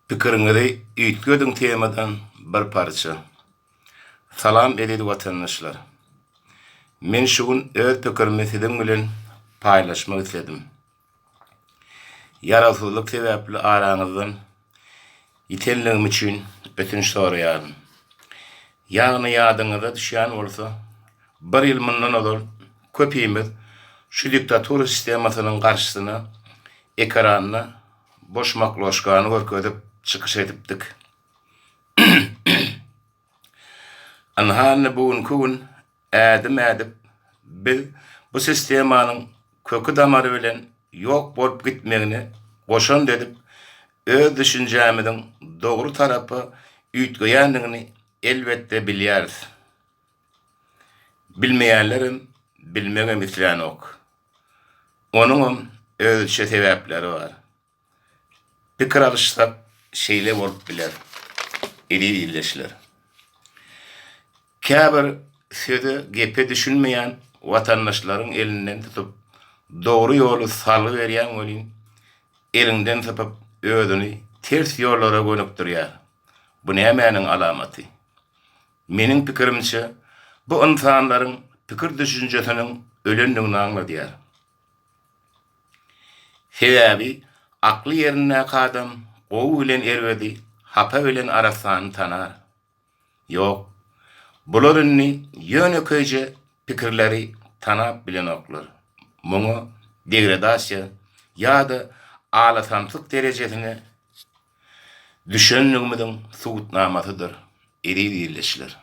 Pikiriňizi üýtgediň temadan bir parça. Salam eziz watandaşlar. Men şu gün öz pikirimi siziň bilen paýlaşmak isledim. Ýarawsyzlyk sebäpli araňyzdan ýitenligim üçin ötünç soraýaryn. Ýagny ýadyňyza düşýän bolsa, bir ýyl mundan ozal köpimiz şu diktatura sistemasynyň garşysyna ekranda boş makloşkany görkezip çykyş edipdik. Ynha indi bu günki gün ädim ädip biz bu sistemanyň köki damary bilen ýok bolup gitmegine goşant edip öz düşünjämiziň dogry tarapa üýtgeýändigini elbetde bilýäris. Bilmeýänlerem bilmegem islänok. Onuňam özüçe sebäpleri bar. Pikir alyşsak, şeýle bolup biler, eziz ildeşler. Käbir söze, gepe düşünmeýän watandaşlaryň elinden tutup, dogry ýoly salgy berýän welin, eliňden sypyp, özüni ters ýollara gönükdirýär. Bu nämäniň alamaty? Meniň pikirimçe, bu ynsanlaryň pikir-düşünjesiniň ölendigini aňladýar. Sebäbi akly ýerindäki adam gowy bilen erbedi, hapa bilen arassany tanar. Ýok, bular indi ýönekeýje pikirleri tanap bilenoklar. Muňa degradasiýa ýa-da alasamsyk derejesine düşendigimiziň subutnamasydyr, eziz ildeşler.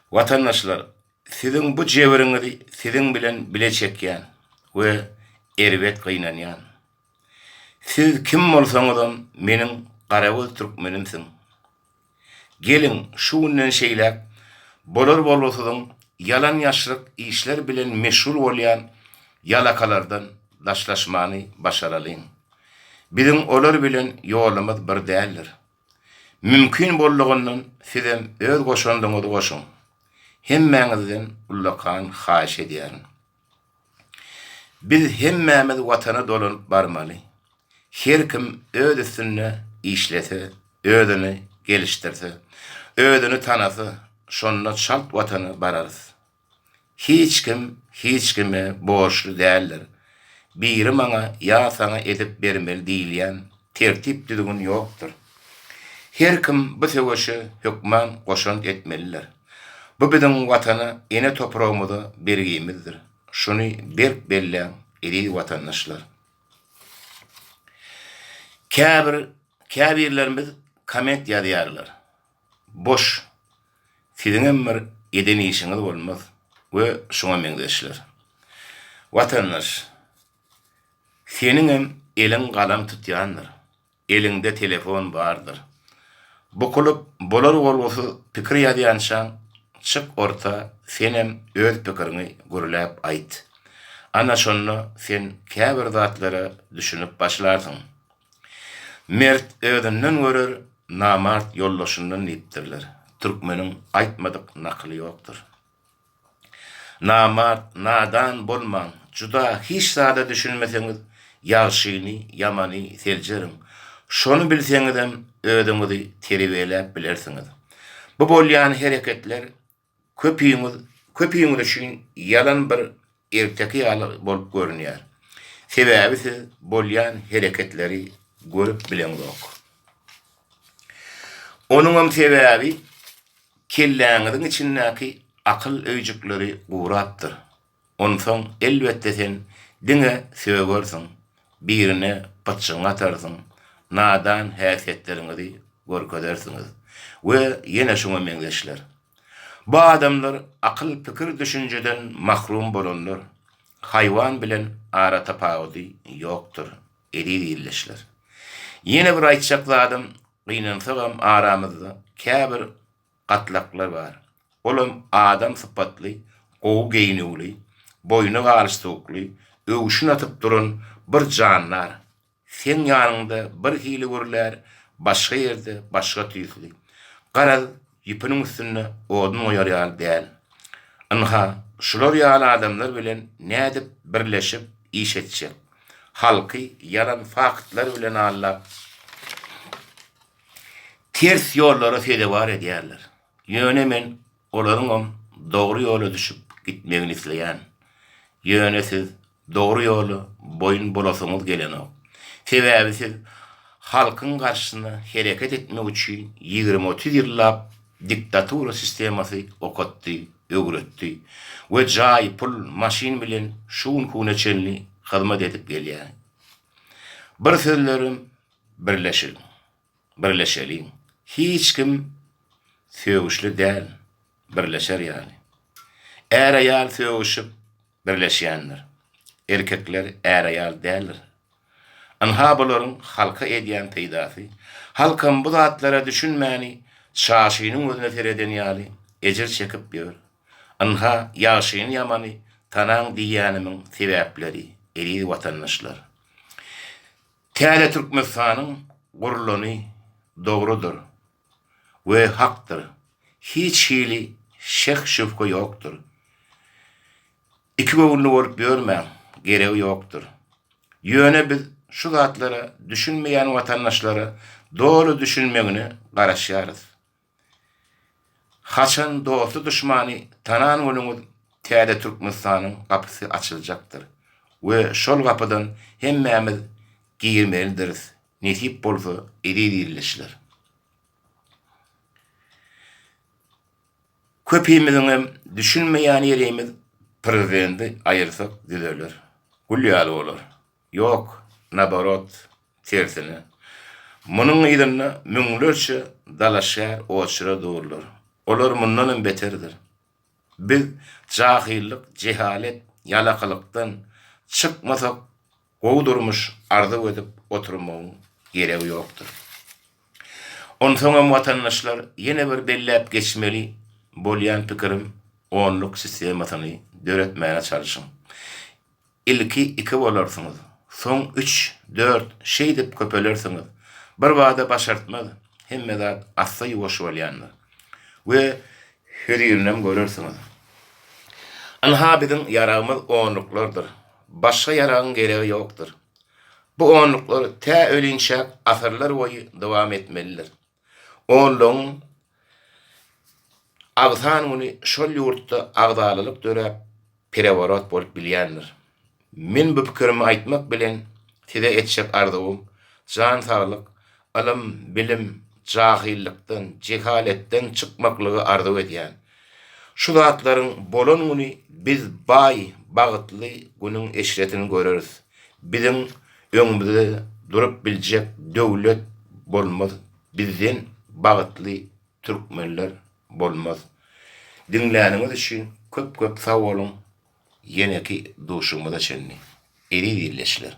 Watandaşlar, siziň bu jebiriňizi siziň bilen bile çekýän we erbet gynanýan. Siz kim bolsaňyzam meniň garagöz türkmenimsiň. Geliň, şu günden şeýläk bolar-bolgusyzyň ýalan-ýaşryk işler bilen meşgul bolýan ýalakalardan daşlaşmany başaralyň. Biziň olar bilen ýolumyz bir däldir. Mümkin boldugyndan sizem öz goşandyňyzy goşuň. Hemmäňizden ullakan haýyş edýärin. Biz hemmämiz watana dolanyp barmaly. Her kim öz üstünde işlese, özüni gelişdirse, özüni tanasa, şonda çalt watana bararys. Hiç kim hiç kime borçly däldir. Biri maňa ýa saňa edip bermeli diýilýän tertip-düzgün ýokdur. Her kim bu söweşe hökman goşant etmelidir. Bu biziň Watana, ene topragymyza bergimizdir. Şuny berk belläň, eziz watandaşlar! Käbir käbirlerimiz komment ýazýarlar. Boş. Siziňem bir eden işiňiz bolmaz we şuňa meňzeşler. Watandaş, seniňem eliň galam tutýandyr, eliňde telefon bardyr. Bukulyp, bolar-bolgusyz pikir ýazýançaň, çyk orta, senem öz pikiriňi gürläp aýt. Ana şonda sen käbir zatlara düşünip başlarsyň. Mert özünden görer, namart ýoldaşyndan diýipdirler. Türkmeniň aýtmadyk nakyly ýokdur. Namart, nadan bolmaň, juda hiç zada düşünmeseňiz, ýagşyny, ýamany seljeriň. Şony bilseňizem, özüňizi terbiýeläp bilersiňiz. Bu bolýan hereketler Köpiňiz, köpiňiz üçin ýalan bir erteki ýaly bolup görünýär. Sebäbi siz bolýan hereketleri görüp bileňzok. Onuňam sebäbi kelläňiziň içindäki akyl öýjükleri gurapdyr. Onsoň elbetde sen diňe sögersiň, birine gytçygyňy atarsyň, nadan häsiýetleriňizi görkezersiňiz we ýene şuňa meňzeşler. Bu adamlar akyl pikir düşünjeden mahrum bolanlar, haýwan bilen ara tapawudy ýokdur, eziz ildeşler. Ýene bir aýtjak zadym, gynansagam aramyzda käbir. gatlaklar bar. Olam adam sypatly, gowy geýnüwli, boýna galstukly, öwşün atyp duran bir jandar. Seň ýanyňda bir hili gürlär, başga ýerde başga tüýsli. Garaz, ýüpüniň üstünde odun goýar ýaly däl. Ynha, şular ýaly adamlar bilen nädip birleşip iş etjek? Halky ýalan faktlar bilen aldap. ters ýollara sezewar edýärler. Ýöne men olaryňam dogry ýola düşüp gitmegini isleýän. Ýöne siz dogry ýola boýun bolasyňyz gelenok. Sebäbi siz halkyň garşysyna hereket etmek üçin ýigrimi-otuz ýyllap diktatura sistemasy okatdy, öwretdi we jaý, pul, maşyn bilen şu gün-kune çenli hyzmat edip gelýäň. Bir sözlerem Birleşiň, birleşeliň, hiç kim sögüşli däl, birleşer ýaly. Är-aýal sögüşip, birleşýändir. Erkekler är-aýal däldir. Ynha bularyň halka edýän peýdasy. Halkam bu zatlara düşünmäni çaşynyň gözüne sereden ýaly ejir çekip ýör. Ynha ýagşyny-ýamany tanaň diýýänimiň sebäpleri, eziz watandaşlar. Täze Türkmenistanyň gurulany dogrudyr we hakdyr, hiç hili şek-şübhe ýokdur. Ikigöwünli bolup ýörmäň, geregi ýokdur. Ýöne biz şu zatlara düşünmeýän watandaşlara doly düşünmegine garaşýarys. Haçan dosty duşmany tanan bolanyz täze Türkmenistanyň gapysy açyljakdyr we şol gapydan hemmämiz girmelidiris nesip bolsa eziz ildeşler. Köpimiziňem düşünmeýän ýerimiz prezidenti aýyrsak düzeler. Gül ýaly bolar. Ýok, naborot, tersine. Munuň yzynda müňlerçe dalaşgär oçera durlar. Olar mundanam beterdir. Biz jahyllyk, jehalet, ýalakalykdan çykmasak, gowy durmuş arzuw edip oturmagyň geregi ýokdur. Onsoňam watandaşlar ýene bir belläp geçmeli bolýan pikirim onluk sistemasyny döretmäne çalşyň. Ilki iki bolarsyňyz, soň üç, dört, şeýdip köpelersiňiz. Birbada başartmaz, hemme zat assa-ýuwaş bolýandyr we hözirinam görersiňiz. Ynha biziň ýaragymyz onluklardyr, başga ýaragyň geregi ýokdur. Bu onluklar tä ölinçäk asyrlar boýy dowam etmelidir. Onlugyň agzan güni şol ýurtda agzalalyk döräp, pereworot bolup bilýändir. Men bu pikirimi aýtmak bilen, size etjek arzuwym, jan saglyk, ylym, bilim, jahylykdan, jehaletden çykmaklygy arzuw edýän. Şu zatlaryň bolan güni biz baý, bagtly günüň eşretini göreris. Biziň öňümizde durup biljek döwlet bolmaz bizden bagytly türkmenler bolmaz. Diňläniňiz üçin köp köp sag boluň ýeneki duşugymyza çenli eziz ildeşler.